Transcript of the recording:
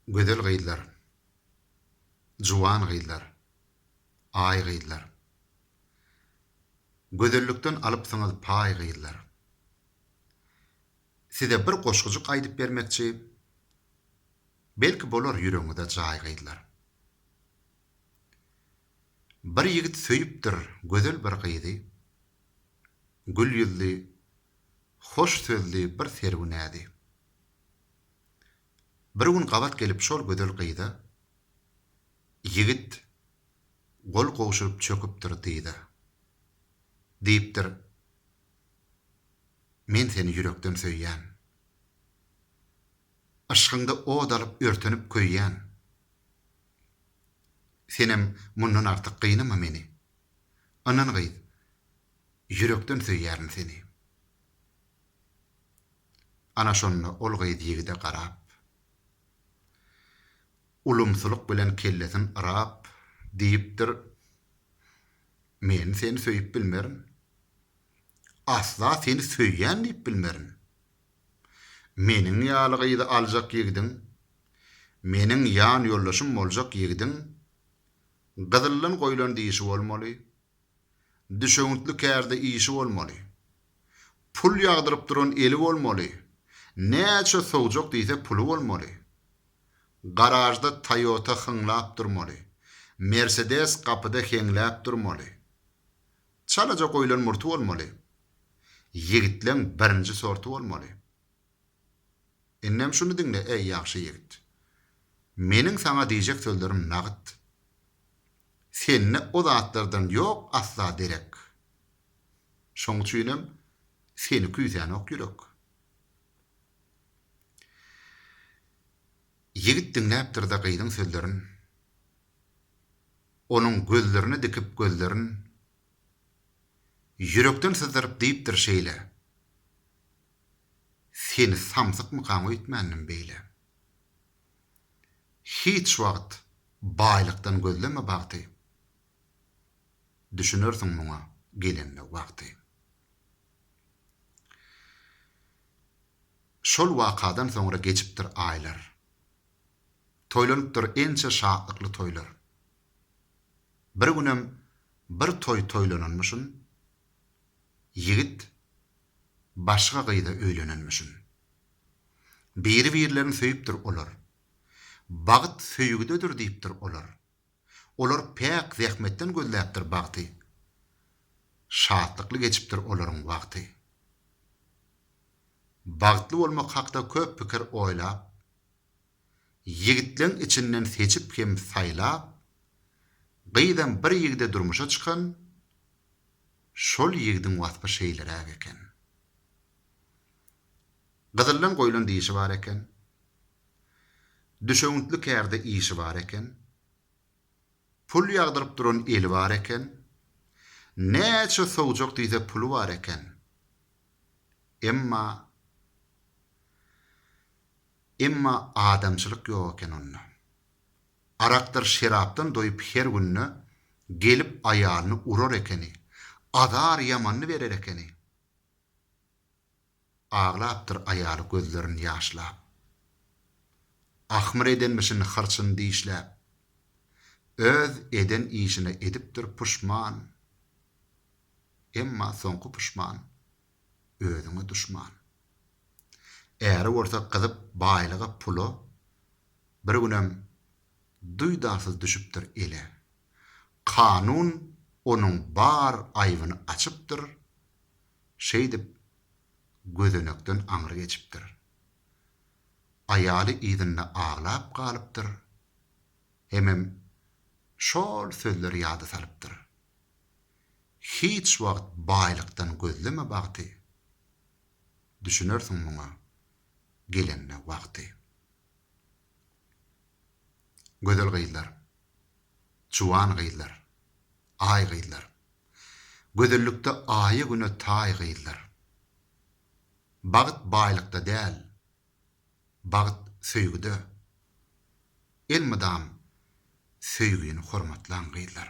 Gözel gyzlar. Juwan gyzlar. Aý gyzlar. Gözellikden alypsyňyz paý gyzlar. Size bir goşgujyk aýdyp bermekçi. Belki bolar ýüregiňize jaý gyzlar. Bir ýigit söýüpdir gözel bir gyzy. Gül ýüzli. Hoş sözli bir sergünädi. Bir gün gabat gelip şol gözel gyza Ýigit gol gowşuryp çöküpdir dyza. Diýipdir Men seni ýürekden söýýän. Yşkyňda ot alyp örtenip köýýän. Senem mundan artyk gynama meni. Ynan gyz ýürekden söýýärin seni. Ana şonda ol gyz ýigide garap. Ulumsylyk bilen kellesin yrap diýipdir Men seni söýüp bilmerin. Asla seni söýýän diýip bilmerin. Meniň ýaly gyzy aljak ýigidiň, meniň ýan ýoldaşym boljak ýigidiň, Gyzyldan goýlan dişi bolmaly. Düşewüntli kärde işi bolmaly. Pul ýagdyryp duran eli bolmaly. Näçe sowjak diýse puly bolmaly. Garažda Toyota hyňlap durmaly. Mersedes gapyda heňläp durmaly. Çalaja goýlan murty bolmaly. Ýigitleň birinji sorty bolmaly. Indem şuny diňle, eý, ýagşy ýigit. Meniň saňa diýjek sözlerim nagyt. Sende o zatlardan ýok asla derek. Şoň üçinem seni küýsänok ýürek. Ýigit diňläpdir-de gyzyň sözlerin. Onuň gözlerine dikip gözlerin. Ýürekden syzdyryp diýipdir şeýle. Seni samsykmykaň öýtmändim beýle. Hiç wagt baýlykdan gözleme bagty, Düşünersiň muňa gelende wagty. Şol wakadan soňra geçipdir aýlar, Toýlanypdyr ençe şatlykly toýlar. Bir günem bir toý toýlananmyşyn, ýigit başga gyza öýlenenmişin. Biri-birlerini söýüpdir olar. Bagt söýgüdedir diýipdir olar. Olar päk zähmetden gözläpdir bagty. Şatlykly geçipdir olaryň wagty. Bagtly bolmak hakda köp pikir oýlap. Ýigitleň içinden seçip hem saýlap, gyzam bir ýigide durmuşa çykan, şol ýigidiň waspy şeýleräk eken. Gyzyldan goýlan dişi bar eken. Düşewüntli kärde işi bar eken. Pul ýagdyryp duran eli bar eken. Näçe sowjak diýse puly bar eken. Emma. Emma adamçylyk ýok eken onda. Arakdyr şerapdan doýup her günde gelip aýalyny urar ekeni, azar ýamanyny berer ekeni. Aglapdyr aýaly gözlerin ýaşlap. Ahmyr edenmişin hyrçyny dişläp. Öz eden işine edipdir puşman. Emma soňky puşman özüňe duşman. Äri bolsa gyzyp baýlyga pula bir günem duýdansyz düşüpdir ele. Kanun onuň bar aýbyny açypdyr, şeýdip gözenekden aňry geçipdir. Aýaly yzynda aglap galypdyr hemem şol sözleri ýada salypdyr. Hiç wagt baýlykdan gözleme bagty, Düşünersiň muňa gelende wagty. Gözel gyzlar, juwan gyzlar, Aý gyzlar, Gözellikde Aýa-Güne taý gyzlar. Bagt baýlykda däl, bagt söýgüde, Elmydam söýgini hormatlaň gyzlar.